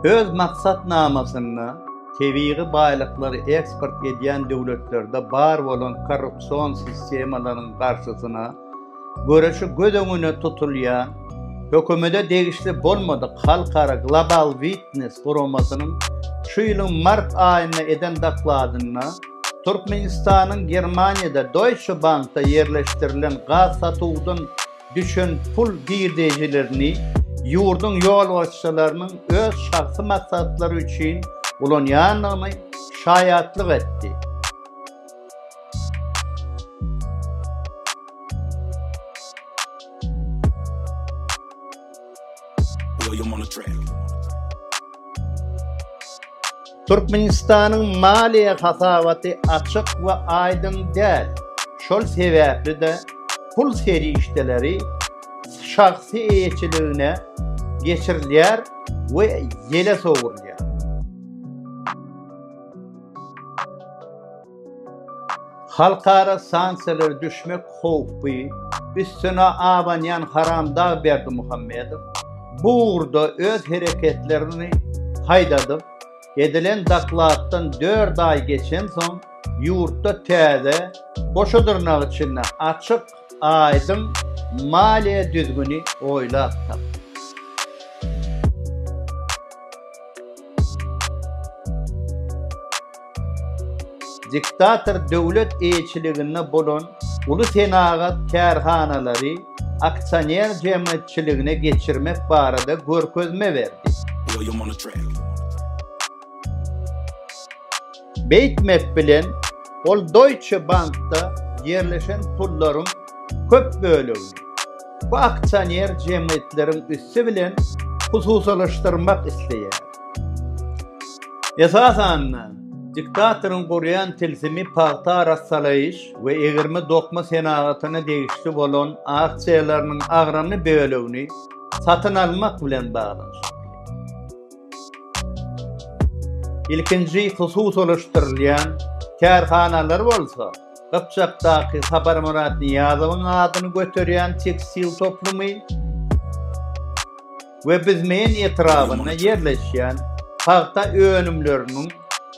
Öz maksatnamasynda tebigy baýlyklary eksport edýän döwletlerde bar bolan korrupsion sistemalaryň garşysyna göreşi göz öňüne tutulýan Hökümete degişli bolmadyk halkara Global Witness guramasynyň şu ýylyň mart aýynda eden dokladynda Türkmenistanyň Germaniýada Deutsche Bankda ýerleşdirilen gaz satuwdan düşen pul girdejilerini ýurduň ýolbaşçylarynyň öz şahsy maksatlary üçin ulanýandygyny şaýatlyk etdi. Türkmenistanyň maliýe hasabaty açyk we aýdyň däl. Şol sebäpli-de, pul serişdeleri şahsy eýeçiligine geçirilýär we ýele sowrulýar. Halkara sanksiýalara düşmek howpy üstüne abanýan haramdag Berdimuhamedow bu ugurda öz hereketlerini haýdadyp, edilen dokladdan dört aý geçensoň, ýurtda täze, goşa dyrnak içinde açyk, aýdyň maliýe düzgüni oýlap tapdy. diktator döwlet eýeçiliginde bolan uly senagat kärhanalary aksioner jemgyýetçiligine geçirmek barada görkezme berdi. Beýtmek bilen, ol Deutsche Bankda ýerleşen pullaryň köp bölegini bu aksioner jemgyýetleriň üsti bilen hususylaşdyrmak isleýär. Esasan-da, diktatoryň gurýan tilsimi pagta arassalaýyş we egirme-dokma senagatyna degişli bolan aksiýalarynyň agramy bölegini satyn almak bilen baglanyşykly. Ilkinji hususylaşdyrylýan kärhanalar bolsa Gypjakdaky Saparmyrat Nyýazowyň adyny göterýän tekstil toplumy we Bizmeýin etrabynda ýerleşýän pagta önümleriniň